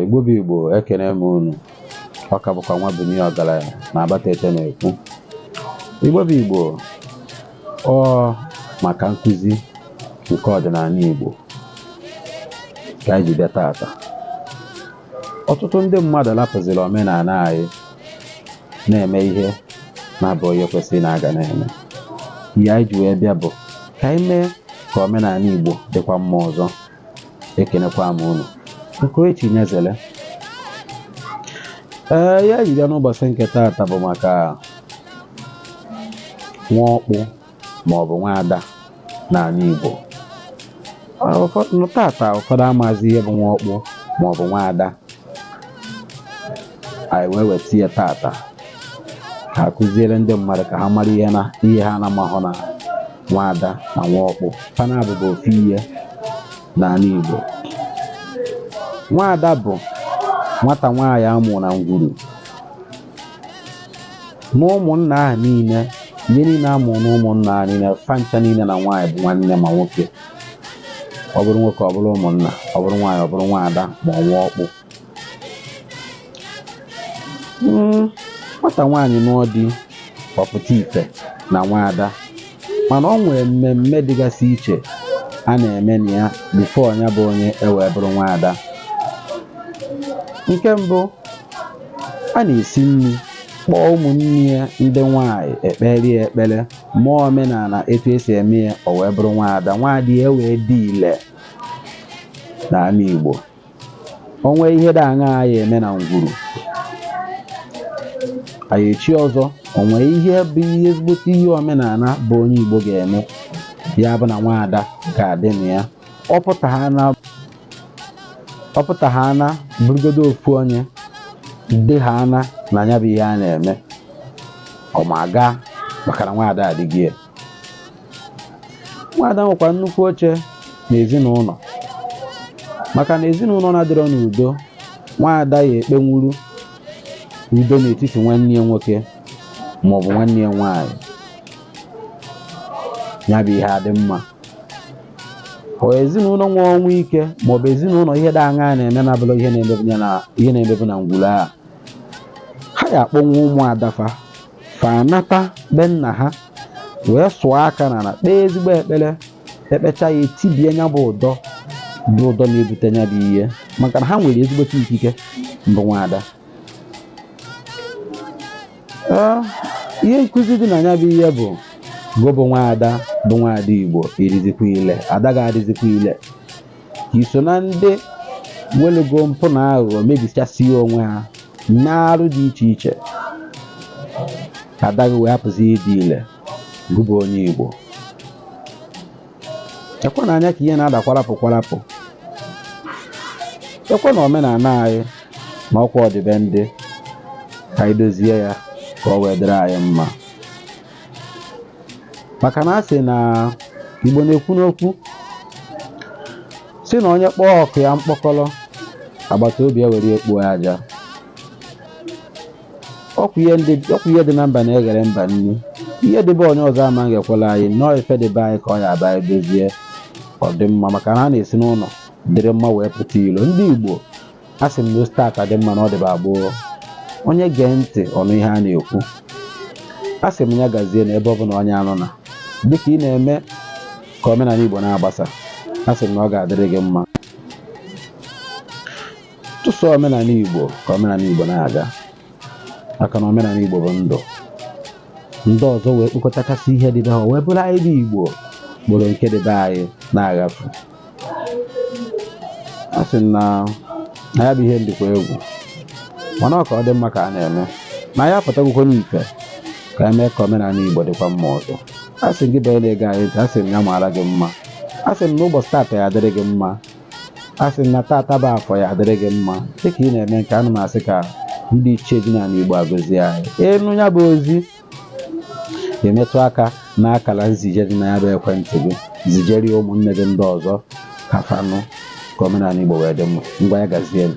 igbo bụ igbo ekene m unu ọ ka bụkwa nwabunie ọgaranya na abatete na-ekwu igbo bụ igbo ọ maka nkụzi nke ọdịnala igbo ka anyị ji bịa taata ọtụtụ ndị mmadụ lapụziri omenala anyị na-eme ihe na-abụghị ihe kwesịrị na-aga na-eme ihe anyị ji wee bịa bụ ka anyị mee ka omenala Igbo dịkwa mma ọzọ ekenekwa m unu nke chi nyezere ihe anyị ji bịa n'ụbọchị nke taata bụ maka nwa ọkpụ ma ọ bụ nwaada n'ala Igbo tata ụfọdụ amazi ihe bụ nwa ọkpụ ma ọ bụ nwaada anyị wee weta ya tata ka akụziere ndị mmadụ ka ha mara ihe ha na-amahụ na nwaada na nwa ọkpụ fa naabọ bụ ofu ihe n'ala Igbo nwaada bụ nwata nwaanyị a mụ na ngwuru na ụmụnna ahụ niile ihe niile a mụrụ na ụmụnna ahụ niile fa ncha niile na nwaanyị bụ nwanne ma nwoke ọ bụrụ nwoke ọ bụrụ ụmụnna ọ bụrụ nwaanyị ọ bụrụ nwaada ma ọ nwa ọkpụ nwata nwaanyị nụọ di ọ pụta ife na nwaada mana o nwere mmemme dịgasị iche a na-eme na ya bifo ya bụ onye e wee bụrụ nwaada nke mbụ a na-esi nri kpọọ ụmụnne ya ndị nwanyị e kpeere ya ekpere mee omenala etu e si eme ya o wee bụrụ nwaada nwaada ya wee dị ile n'ala Igbo o nwee ihe dị aṅa a ya-eme na ngwuru a ya-echi ọzọ o nwee ihe bụ ihe ezigbote ihe omenala bụ onye Igbo ga-eme ya bụ na nwaada ga-adị na ya ọ pụta ha na bụrụgodo ofu onye dị ha ana na ya bụ ihe a na-eme ọ ma gaa maka na nwaada adịghị ya nwaada nwekwa nnukwu oche na ezinụlọ maka na ezinụlọ na-adịrọ n'udo nwaada ya-ekpenwuru udo n'etiti nwanne ya nwoke ma ọ bụ nwanne ya nwaanyị ya bụ ihe adị mma ọ ezinụlọ nwe ọnwụ ike ma ọ bụ ezinụlọ ihe dị aṅa na-eme na-abụrọ ihe na-emebu na ngwuru a ha ya-akpọnwu ụmụ ada fa fa anata be nna ha wee sụọ aka n'ana kpee ezigbo ekpere ekpecha ya etibie nya bụ ụdọ bụ ụdọ na-ebute nya bụ ihe maka na ha nwere ezigbote ikike mbụ nwaada ihe nkụzi dị na ya bụ ihe bụ gụ bụ nwaada bụ nwaada igbo ị dịzikwa ile ada gị adịzikwa ile i so na ndị welugo mpụ na aghụghọ mebichasịa onwe ha n'arụ dị iche iche adaghị wee hapụzi ịdị ile gụbụ onye Igbo ekwe na anya ka ihe na-ada kwarapụ kwarapụ ekwena omenala anyị naa ọkwa ọdịbendị ka anyị dozie ya ka ọ wee dịrị anyị mma maka na a sị na igbo na-ekwu n'okwu si na onye kpọọ ọkụ ya mkpọkọrọ agbata obi ya were ya kpoo aja ọkwa ihe ndị- ọkwa ihe dị na mba na-eghere mba nri ihe dị be onye ọzọ ama eghekwara anyị na ọ ife dị be anyị ka ọ ya aba edozie ọ dị mma maka na a na-esi n'ụlọ dịrị mma wee pụta ilo ndị igbo a sị m na o site taa dị mma na ọ dịba gboo onye gee ntị ọ nụ ihe a na-ekwu a sị m ya gazie na ebe ọ bụla onye a nọ na dịka ị na-eme ka omenala Igbo na-agbasa a sị m na ọ ga-adịrị gị mma tụsụ omenala Igbo ka omenala Igbo na-aga maka na omenala Igbo bụ ndụ ndị ọzọ wee kpokọtakasị ihe dị be ha wee buru anyị bụ Igbo kporo nke dị be anyị na-aghafu a sị m na ya bụ ihe dịkwa egwu mana ọ ka ọ dị mma ka a na-eme na ya apụtagokwa n'ife ka e mee ka omenala igbo dịkwa mma ọzọ a sị m gị bụ onye na-ege anyị a sị m ya maara gị mma a sị m na ụbọchị taata ya adịrị gị mma a sị m na taata bụ afọ ya adịrị gị mma dịka ị na-eme nke a na m asị ka ndị ichie dị n'ala igbo agọzie anyị ị nụ ya bụ ozi ị metụ aka n'akara nzije dị na ya bụ ekwentị gị zijere ya ụmụnne gị ndị ọzọ ka fa nụ ka omenala Igbo wee dị mma ngwa ya gazienụ